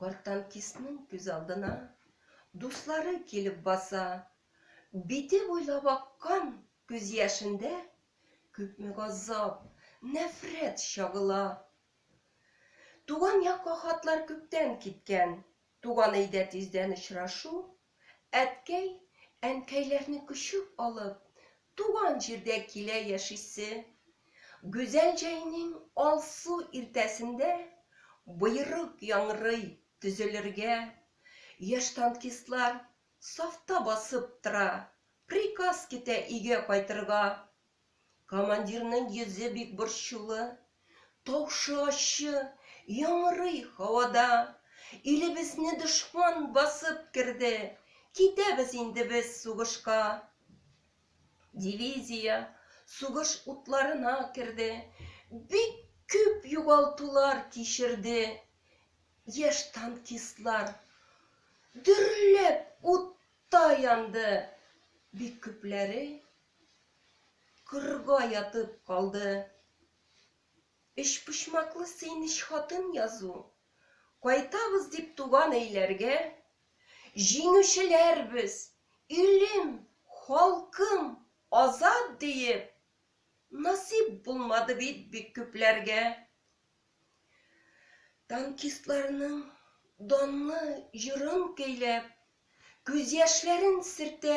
Картантистның күз алдына дуслары килеп баса. Бите буйлап аккан күз яшендә күпме газап, нәфрәт чагыла. Туган якка хатлар күптән киткән, туган өйдә тиздән очрашу Әткәй, әнкәйләрне күчеп алып, туган җирдә килә яшисе. Гүзәл җәйнең алсу иртәсендә боерык яңрый, төзелергә. Яшь танкистлар сафта басып тора, приказ китә өйгә кайтырга, Командирның йөзе бик борчулы. Тавышы ачы, яңгырый һавада. Илебезне дошман басып керде. Китәбез инде без сугышка. Дивизия сугыш утларына керде. Бик күп югалтулар кичерде. Яшь танкистлар дөрләп утта янды. Бик күпләре Кырга ятып калды. Өчпочмаклы Сыйныч хатын язу. Кайтабыз дип туган өйләргә, Җиңүчеләрбез, илем, халкым, азат диеп, Насыйп булмады бит бик күпләргә. Танкистларның данлы җырын көйләп, Күз яшьләрен сөртә